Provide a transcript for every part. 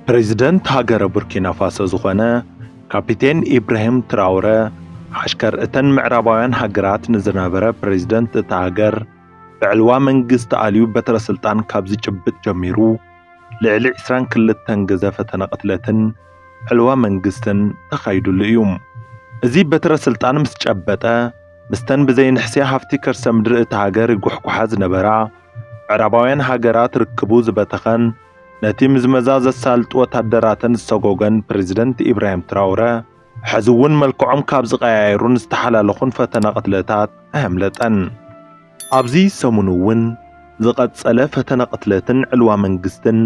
ፕረዚደንት ሃገረ ቡርኪናፋሶ ዝኾነ ካፒቴን ኢብራሂም ትራውረ ዓሽከር እተን ምዕራባውያን ሃገራት ንዝነበረ ፕረዚደንት እታ ሃገር ብዕልዋ መንግስቲ ኣልዩ በትረ ስልጣን ካብ ዝጭብጥ ጀሚሩ ልዕሊ 22 ግዘ ፈተነ ቅትለትን ዕልዋ መንግስትን ተኻይዱሉ እዩ። እዚ በትረ ስልጣን ምስ ጨበጠ ምስተን ብዘይንሕስያ ሃፍቲ ከርሰ ምድሪ እታ ሃገር ይጉሕጉሓ ዝነበራ ምዕራባውያን ሃገራት ርክቡ ዝበተኸን ነቲ ምዝመዛ ዘሳልጡ ወታደራተን ዝሰጎገን ፕረዚደንት ኢብራሂም ትራውረ ሕዚ እውን መልክዖም ካብ ዝቐያየሩን ዝተሓላለኹን ፈተነ ቅትለታት ኣየምለጠን። ኣብዚ ሰሙን እውን ዝቐጸለ ፈተነ ቅትለትን ዕልዋ መንግስትን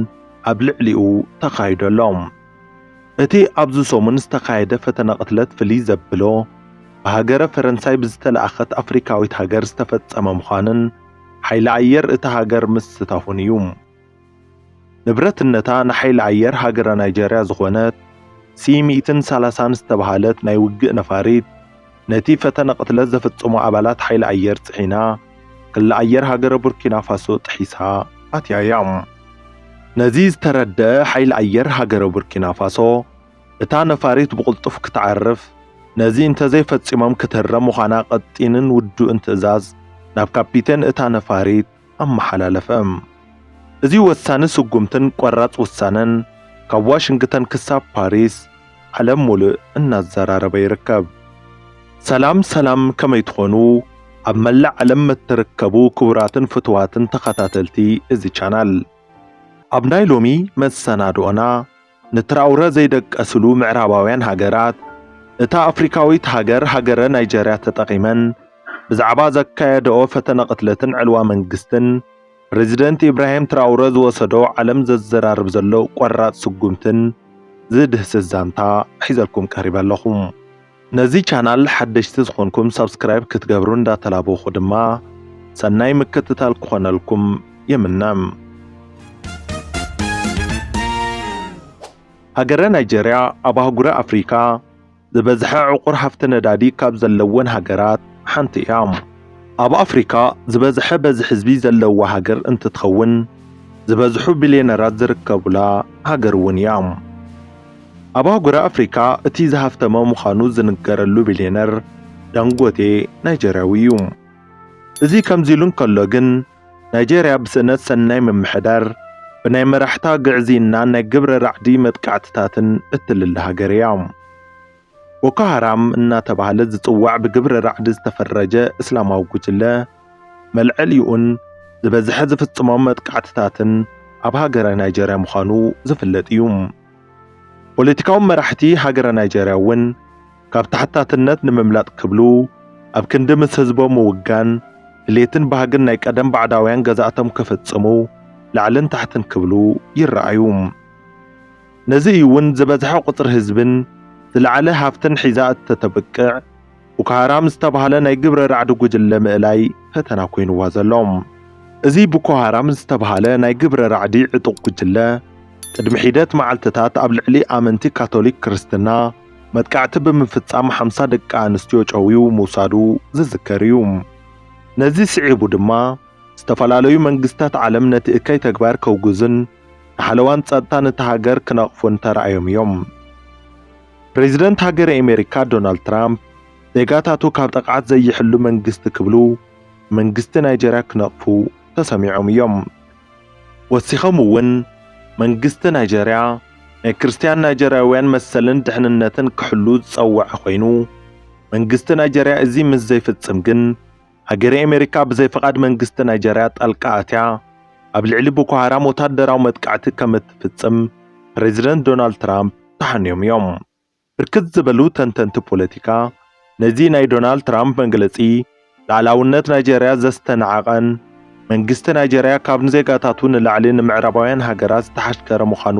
ኣብ ልዕሊኡ ተኻይዱ ኣሎ። እቲ ኣብዚ ሰሙን ዝተኻየደ ፈተነ ቅትለት ፍልይ ዘብሎ ብሃገረ ፈረንሳይ ብዝተለኣኸት ኣፍሪካዊት ሃገር ዝተፈጸመ ምዃኑን፣ ሓይሊ ኣየር እታ ሃገር ምስታፉን እዩ። ንብረትነታ ንሓይሊ ኣየር ሃገረ ናይጀርያ ዝኾነት ሲ ሚእትን ሰላሳን ዝተብሃለት ናይ ውግእ ነፋሪት ነቲ ፈተነ ቅትለት ዘፈጸሙ ኣባላት ሓይሊ ኣየር ጽዒና ክሊ ኣየር ሃገረ ቡርኪና ፋሶ ጥሒሳ ኣትያ እያ። ነዚ ዝተረደኣ ሓይሊ ኣየር ሃገረ ቡርኪና ፋሶ፣ እታ ነፋሪት ብቕልጡፍ ክትዓርፍ፣ ነዚ እንተዘይፈጺሞም ክትህረም ምዃና ቀጢንን ውዱእን ትእዛዝ ናብ ካፒቴን እታ ነፋሪት ኣመሓላለፈ። እዚ ወሳኒ ስጉምትን ቆራጽ ውሳነን ካብ ዋሽንግተን ክሳብ ፓሪስ ዓለም ሙሉእ እናዘራረበ ይርከብ። ሰላም ሰላም ከመይ ትኾኑ ኣብ መላእ ዓለም መትርከቡ ክቡራትን ፍቱዋትን ተኸታተልቲ እዚ ቻናል ኣብ ናይ ሎሚ መሰናድኦና፣ ንትራውረ ዘይደቀስሉ ምዕራባውያን ሃገራት፣ እታ ኣፍሪካዊት ሃገር ሃገረ ናይጀርያ ተጠቒመን ብዛዕባ ዘካየደኦ ፈተነ ቅትለትን ዕልዋ መንግስትን ፕረዚደንት ኢብራሂም ትራውረ ዝወሰዶ ዓለም ዘዘራርብ ዘሎ ቆራፅ ስጉምትን ዝድህስስ ዛንታ ሒዘልኩም ቀሪበ ኣለኹ። ነዚ ቻናል ሓደሽቲ ዝኾንኩም ሳብስክራይብ ክትገብሩ እንዳተላበኹ ድማ ሰናይ ምክትታል ክኾነልኩም ይምነ። ሃገረ ናይጀርያ ኣብ ኣህጉረ ኣፍሪካ ዝበዝሐ ዕቑር ሃፍቲ ነዳዲ ካብ ዘለወን ሃገራት ሓንቲ እያ። ኣብ ኣፍሪካ ዝበዝሐ በዚ ሕዝቢ ዘለዋ ሃገር እንትትኸውን ዝበዝሑ ቢልየነራት ዝርከቡላ ሃገር እውን እያ። ኣብ ኣህጉረ ኣፍሪካ እቲ ዝሃፍተመ ምዃኑ ዝንገረሉ ቢልየነር ዳንጎቴ ናይጀርያዊ እዩ። እዚ ከምዚሉ እንከሎ ግን ናይጀርያ ብስእነት ሰናይ ምምሕዳር፣ ብናይ መራሕታ ግዕዝይናን ናይ ግብረ ራዕዲ መጥቃዕትታትን እትልለ ሃገር እያ። ቦኮ ሃራም እናተባህለ ዝጽዋዕ ብግብረ ራዕዲ ዝተፈረጀ እስላማዊ ጉጅለ፣ መልዐሊኡን ዝበዝሐ ዝፍጽሞም መጥቃዕትታትን ኣብ ሃገረ ናይጀርያ ምዃኑ ዝፍለጥ እዩ። ፖለቲካዊ መራሕቲ ሃገረ ናይጀርያ እውን ካብ ተሓታትነት ንምምላጥ ክብሉ ኣብ ክንዲ ምስ ህዝቦም ምውጋን ድሌትን ባህግን ናይ ቀደም ባዕዳውያን ገዛእቶም ክፍጽሙ ላዕልን ታሕትን ክብሉ ይረኣዩ። ነዚ እዩ እውን ዝበዝሐ ቁፅሪ ህዝብን ዝለዓለ ሃፍትን ሒዛ እተተብቅዕ ቡኮሃራም ዝተብሃለ ናይ ግብረ ራዕዲ ጉጅለ ምእላይ ፈተና ኮይኑዋ ዘሎ። እዚ ቡኮሃራም ዝተብሃለ ናይ ግብረ ራዕዲ ዕጡቕ ጉጅለ ቅድሚ ሒደት መዓልትታት ኣብ ልዕሊ ኣመንቲ ካቶሊክ ክርስትና መጥቃዕቲ ብምፍፃም ሓምሳ ደቂ ኣንስትዮ ጨውዩ ምውሳዱ ዝዝከር እዩ። ነዚ ስዒቡ ድማ ዝተፈላለዩ መንግስታት ዓለም ነቲ እከይ ተግባር ከውግዙን ንሓለዋን ጸጥታን እታ ሃገር ክነቕፉን ተራእዮም እዮም። ፕሬዝደንት ሃገረ ኣሜሪካ ዶናልድ ትራምፕ ዜጋታቱ ካብ ጥቕዓት ዘይሕሉ መንግስቲ ክብሉ መንግስቲ ናይጀርያ ክነቕፉ ተሰሚዖም እዮም። ወሲኾም እውን መንግስቲ ናይጀርያ ናይ ክርስትያን ናይጀርያውያን መሰልን ድሕንነትን ክሕሉ ዝጸወዐ ኮይኑ መንግስቲ ናይጀርያ እዚ ምስ ዘይፍጽም ግን ሃገረ ኣሜሪካ ብዘይ ፍቓድ መንግስቲ ናይጀርያ ጣልቃ ኣትያ ኣብ ልዕሊ ቦኮሃራም ወታደራዊ መጥቃዕቲ ከም እትፍጽም ፕረዚደንት ዶናልድ ትራምፕ ተሓንዮም እዮም። ብርክት ዝበሉ ተንተንቲ ፖለቲካ ነዚ ናይ ዶናልድ ትራምፕ መግለጺ ልኣላውነት ናይጀርያ ዘስተናዓቐን መንግስቲ ናይጀርያ ካብ ንዜጋታቱ ንላዕሊ ንምዕራባውያን ሃገራት ዝተሓሽከረ ምዃኑ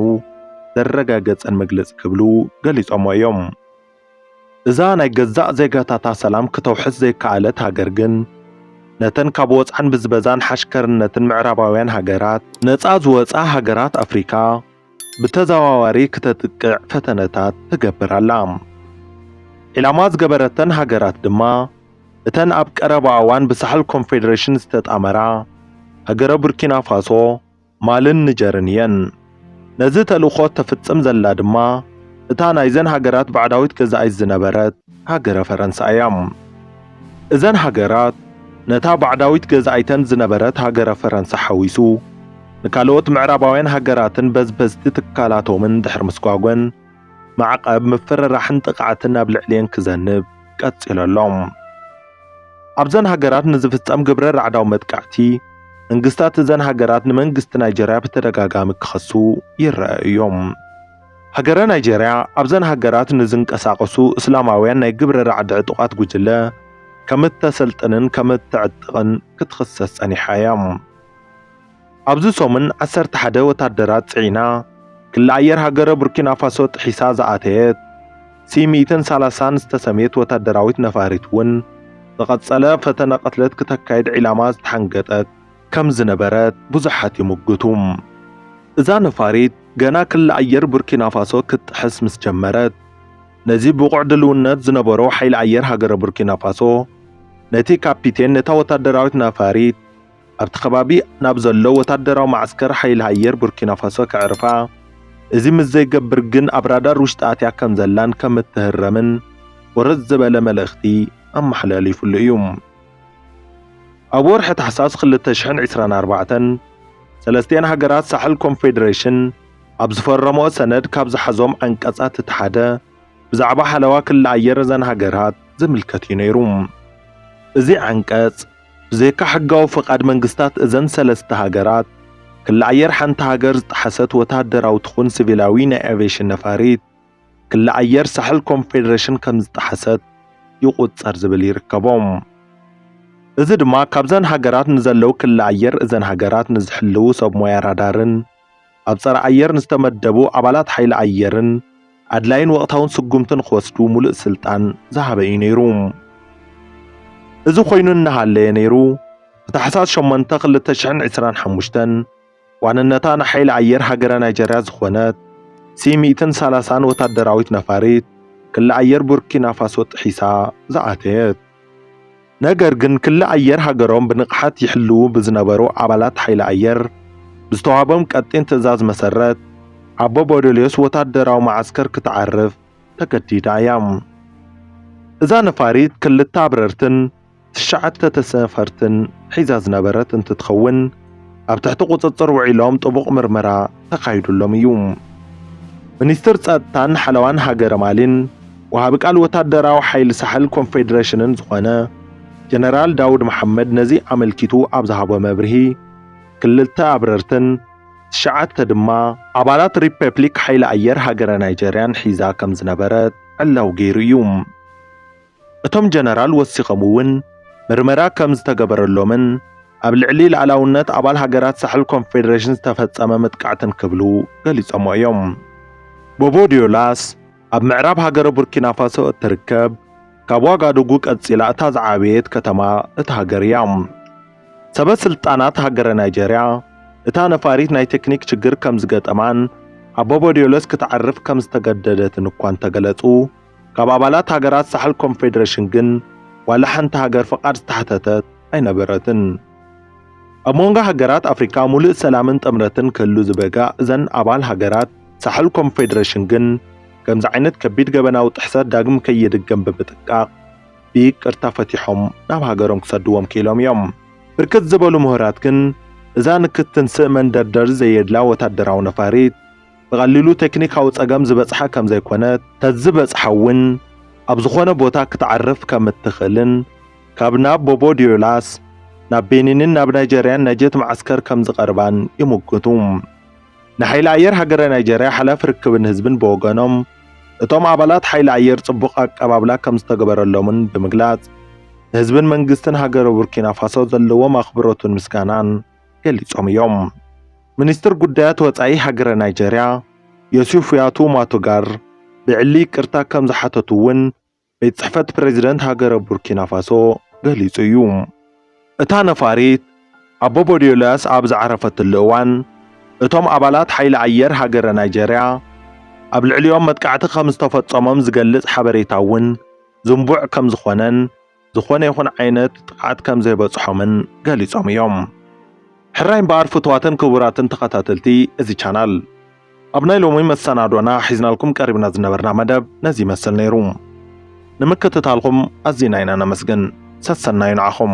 ዘረጋገጸን መግለጺ ክብሉ ገሊጾሞ እዮም። እዛ ናይ ገዛእ ዜጋታታ ሰላም ክተውሕስ ዘይከኣለት ሃገር ግን፣ ነተን ካብ ወጽዓን ብዝበዛን ሓሽከርነትን ምዕራባውያን ሃገራት ነጻ ዝወጻ ሃገራት ኣፍሪካ ብተዘዋዋሪ ክተጥቅዕ ፈተነታት ትገብር ኣላ። ዒላማ ዝገበረተን ሃገራት ድማ እተን ኣብ ቀረባ እዋን ብሳሕል ኮንፌደሬሽን ዝተጣመራ ሃገረ ቡርኪናፋሶ፣ ማልን ንጀርን እየን። ነዚ ተልእኾ እተፍጽም ዘላ ድማ እታ ናይዘን ሃገራት ባዕዳዊት ገዛኢት ዝነበረት ሃገረ ፈረንሳ እያ። እዘን ሃገራት ነታ ባዕዳዊት ገዛኢተን ዝነበረት ሃገረ ፈረንሳ ሓዊሱ ንካልኦት ምዕራባውያን ሃገራትን በዝበዝቲ ትካላቶምን ድሕሪ ምስጓጐን፣ ማዕቐብ ምፍርራሕን ጥቕዓትን ኣብ ልዕሊኤን ክዘንብ ቀፂሉ ኣሎ። ኣብዘን ሃገራት ንዝፍፀም ግብረ ራዕዳዊ መጥቃዕቲ መንግስታት እዘን ሃገራት ንመንግስቲ ናይጀርያ ብተደጋጋሚ ክኸሱ ይረኣዩ እዮም። ሃገረ ናይጀርያ ኣብዘን ሃገራት ንዝንቀሳቐሱ እስላማውያን ናይ ግብረ ራዕዲ ዕጡቓት ጉጅለ ከምእተሰልጥንን ከምእተዕጥቕን ክትኽሰስ ፀኒሓ እያ። ኣብዚ ሰሙን ዓሰርተ ሓደ ወታደራት ጽዒና ክሊ ኣየር ሃገረ ቡርኪናፋሶ ጥሒሳ ዝኣተየት ሲ ሚእትን ሰላሳን ዝተሰምየት ወታደራዊት ነፋሪት እውን ዝቐጸለ ፈተነ ቅትለት ክተካይድ ዒላማ ዝተሓንገጠት ከም ዝነበረት ብዙሓት ይምጉቱ። እዛ ነፋሪት ገና ክሊ ኣየር ቡርኪናፋሶ ክትጥሕስ ምስ ጀመረት ነዚ ብቑዕ ድልውነት ዝነበሮ ሓይሊ ኣየር ሃገረ ቡርኪናፋሶ ነቲ ካፒቴን ነታ ወታደራዊት ነፋሪት ኣብቲ ከባቢ ናብ ዘሎ ወታደራዊ መዓስከር ሓይሊ ኣየር ቡርኪናፋሶ ከዕርፋ እዚ ምስ ዘይገብር ግን ኣብ ራዳር ውሽጢ ኣትያ ከም ዘላን ከም እትህረምን ወረድ ዝበለ መልእኽቲ ኣመሓላሊፉሉ እዩ። ኣብ ወርሒ ታሕሳስ ክልተ ሽሕን ዕስራን ኣርባዕተን ሰለስቲኤን ሃገራት ሳሕል ኮንፌዴሬሽን ኣብ ዝፈረመኦ ሰነድ ካብ ዝሓዞም ዓንቀጻት እቲ ሓደ ብዛዕባ ሓለዋ ክሊ ኣየር እዘን ሃገራት ዝምልከት እዩ ነይሩ። እዚ ዓንቀጽ ብዘይካ ሕጋዊ ፍቓድ መንግስታት እዘን ሰለስተ ሃገራት፣ ክሊ ኣየር ሓንቲ ሃገር ዝጠሓሰት ወተሃደራዊ ትኹን ሲቪላዊ ናይ ኣቬሽን ነፋሪት፣ ክሊ ኣየር ሳሕል ኮንፌደሬሽን ከምዝጠሓሰት ይቑጸር ዝብል ይርከቦ። እዚ ድማ ካብዘን ሃገራት ንዘለው ክሊ ኣየር እዘን ሃገራት ንዝሕልው ሰብ ሞያ ራዳርን ኣብ ጸረ ኣየር ንዝተመደቡ ኣባላት ሓይሊ ኣየርን ኣድላይን ወቕታውን ስጉምቲ ንክወስዱ ሙሉእ ስልጣን ዝሃበ እዩ ነይሩ። እዚ ኮይኑ እናሃለየ ነይሩ ብታሕሳስ ሸሞንተ ክልተ ሽሕን ዕስራን ሓሙሽተን ዋንነታ ንሓይሊ ኣየር ሃገረ ናይጀርያ ዝኾነት ሲ ሚእትን ሰላሳን ወታደራዊት ነፋሪት ክሊ ኣየር ቡርኪናፋሶ ጥሒሳ ዝኣተየት። ነገር ግን ክሊ ኣየር ሃገሮም ብንቕሓት ይሕልዉ ብዝነበሩ ኣባላት ሓይሊ ኣየር ብዝተዋህቦም ቀጢን ትእዛዝ መሰረት ኣቦ ቦደልዮስ ወታደራዊ መዓስከር ክትዓርፍ ተገዲዳ እያ። እዛ ነፋሪት ክልተ ኣብረርትን ትሽዓተ ተሰፈርትን ሒዛ ዝነበረት እንትትኸውን፣ ኣብ ትሕቲ ቁጽጽር ውዒሎም ጥቡቕ ምርመራ ተኻይዱሎም እዩ። ሚኒስትር ጸጥታን ሓለዋን ሃገረ ማሊን ወሃቢ ቃል ወታደራዊ ሓይሊ ሳሕል ኮንፌደሬሽንን ዝኾነ ጀነራል ዳውድ መሓመድ ነዚ ኣመልኪቱ ኣብ ዝሃቦ መብርሂ ክልተ ኣብረርትን ትሽዓተ ድማ ኣባላት ሪፐብሊክ ሓይሊ ኣየር ሃገረ ናይጀርያን ሒዛ ከም ዝነበረት ዕላው ገይሩ እዩ። እቶም ጀነራል ወሲኾም እውን ምርመራ ከም ዝተገበረሎምን ኣብ ልዕሊ ልኣላውነት ኣባል ሃገራት ሳሕል ኮንፌደሬሽን ዝተፈጸመ መጥቃዕትን ክብሉ ገሊጾሞ እዮም። ቦቦ ዲዮላስ ኣብ ምዕራብ ሃገረ ቡርኪናፋሶ እትርከብ ካብ ዋጋዱጉ ቀጺላ እታ ዝዓበየት ከተማ እታ ሃገር እያ። ሰበ ስልጣናት ሃገረ ናይጀርያ እታ ነፋሪት ናይ ቴክኒክ ችግር ከም ዝገጠማን ኣብ ቦቦ ዲዮለስ ክትዓርፍ ከም ዝተገደደትን እኳ እንተገለጹ ካብ ኣባላት ሃገራት ሳሕል ኮንፌደሬሽን ግን ዋላ ሓንቲ ሃገር ፍቓድ ዝተሓተተት ኣይነበረትን። ኣብ መንጎ ሃገራት ኣፍሪካ ሙሉእ ሰላምን ጥምረትን ክህሉ ዝበጋ እዘን ኣባል ሃገራት ሳሕል ኮንፌደሬሽን ግን ከምዚ ዓይነት ከቢድ ገበናዊ ጥሕሰት ዳግም ከይድገም ብምጥንቃቕ ብይቅርታ ፈቲሖም ናብ ሃገሮም ክሰድዎም ክኢሎም እዮም። ብርክት ዝበሉ ምሁራት ግን እዛ ንክትንስእ መንደርደሪ ዘየድላ ወታደራዊ ነፋሪት፣ ብቐሊሉ ቴክኒካዊ ጸገም ዝበጽሓ ከም ዘይኮነት፣ ተዝበጽሓ እውን ኣብ ዝኾነ ቦታ ክትዓርፍ ከም እትኽእልን ካብ ናብ ቦቦ ዲዮላስ ናብ ቤኒንን ናብ ናይጀርያን ናይ ጀት መዓስከር ከም ዝቐርባን ይምጉቱ። ንሓይሊ ኣየር ሃገረ ናይጀርያ ሓላፊ ርክብን ህዝብን ብወገኖም፣ እቶም ኣባላት ሓይሊ ኣየር ጽቡቕ ኣቀባብላ ከም ዝተገበረሎምን ብምግላጽ፣ ንህዝብን መንግስትን ሃገረ ቡርኪናፋሶ ዘለዎም ኣኽብሮትን ምስጋናን፣ ገሊጾም እዮም። ሚኒስትር ጉዳያት ወጻኢ ሃገረ ናይጀርያ ዮሲፍያቱ ማቶጋር ብዕሊ ይቅርታ ከም ዝሓተቱ እውን ቤት ጽሕፈት ፕሬዚደንት ሃገረ ቡርኪናፋሶ ገሊጹ እዩ። እታ ነፋሪት ኣቦ ቦዲዮላስ ኣብ ዝዓረፈትሉ እዋን እቶም ኣባላት ሓይሊ ኣየር ሃገረ ናይጀርያ ኣብ ልዕሊኦም መጥቃዕቲ ከም ዝተፈጸሞም ዝገልጽ ሓበሬታ እውን ዝንቡዕ ከም ዝኾነን ዝኾነ ይኹን ዓይነት ጥቕዓት ከም ዘይበጽሖምን ገሊጾም እዮም። ሕራይ እምበኣር ፍቱዋትን ክቡራትን ተኸታተልቲ እዚ ቻናል ኣብ ናይ ሎሚ መሰናዶና ሒዝናልኩም ቀሪብና ዝነበርና መደብ ነዚ ይመስል ነይሩ። ንምክትታልኩም ኣዚና ኢና ነመስግን። ሰሰናዩ ንዓኹም።